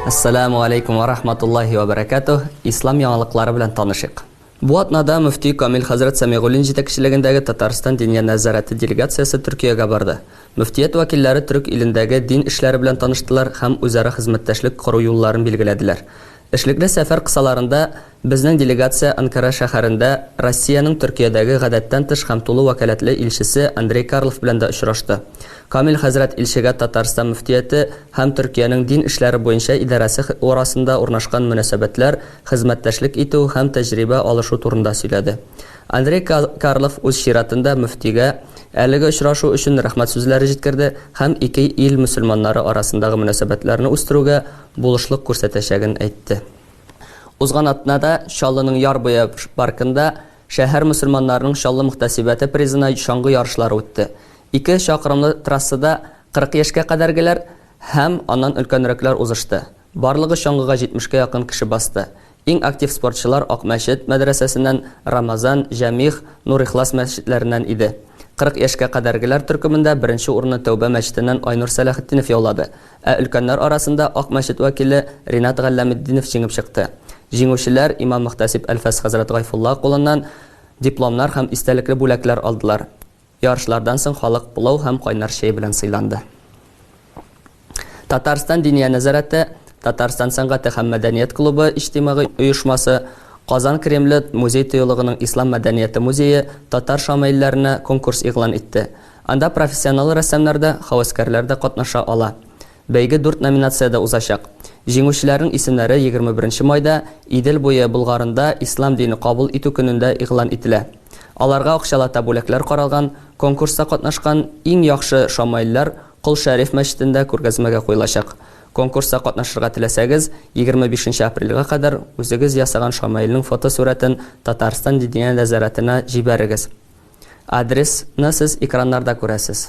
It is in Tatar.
Ассаламу алейкум ва рахматуллахи ва баракатух. Ислам яңалыклары белән танышыйк. Бу атнада мөфти Камил хәзрәт Самигуллин җитәкчелегендәге Татарстан диния нәзарәте делегациясе Төркиягә барды. Мөфтият вәкилләре төрек илендәге дин эшләре белән таныштылар һәм үзара хезмәттәшлек кору юлларын билгеләделәр. Эшлекле сәфәр кысаларында безнең делегация Анкара шәһәрендә Россиянең Төркиядәге Гадәттән тыш һәм тулы вәкаләтле илчесе Андрей Карлов белән дә очрашты. Камил хәзрәт илчегә Татарстан мөфтияте һәм Төркиянең дин эшләре буенча идарәсе арасында урнашкан мөнәсәбәтләр, хезмәттәшлек итү һәм тәҗрибә алышу турында сөйләде. Андрей Карлов үз чиратында мөфтигә әлеге очрашу өчен рәхмәт сүзләре җиткерде һәм ике ил мөселманнары арасындагы мөнәсәбәтләрне үстерүгә булышлык күрсәтәчәген әйтте. Узган атнада Чаллының Яр буе паркында шәһәр мөселманнарының Чаллы мөхтәсибәте призына чаңгы ярышлары үтте. Ике чакрымлы трассада 40 яшькә кадәргеләр һәм аннан өлкәнрәкләр узышты. Барлыгы чаңгыга 70 кә якын кеше басты. Иң актив спортчылар Акмәчет мәдрәсәсеннән Рамазан, Җәмигъ, Нур-Ихлас мәчетләреннән иде. 40 яшькә кадәргеләр төркемендә беренче урынны Тәүбә мәчетеннән Айнур Сәләхетдинов яулады. Ә өлкәннәр арасында Ак мәчет вәкиле Ринат Галләметдинов җиңеп чыкты. Җиңүчеләр имам-мөхтәсиб Әлфәс хәзрәт Гайфулла кулыннан Дипломнар һәм истәлекле бүләкләр алдылар. Ярышлардан соң халык пылау һәм кайнар чәй белән сыйланды. Татарстан Диния нәзарәте, Татарстан сәнгате һәм мәдәният клубы иҗтимагый оешмасы, Казан Кремле музей-тыюлыгының Ислам мәдәнияте музее татар шамаилләренә конкурс игълан итте. Анда профессионал рәссамнар да, һәвәскәрләр дә катнаша ала. Бәйге дүрт номинациядә узачак. Җиңүчеләрнең исемнәре егерме беренче майда Идел буе Болгарында Ислам дине кабул итү көнендә игълан ителә. Аларга акчалата бүләкләр каралган, конкурста катнашкан иң яхшы шамаилләр Кол Шәриф мәчетендә күргәзмәгә куелачак. Конкурста катнашырга теләсәгез, егерме бишенче апрельгә кадәр үзегез ясаган шамаилнең фотосурәтен Татарстан Диния нәзарәтенә җибәрегез. Адрес ны сез экраннарда күрәсез.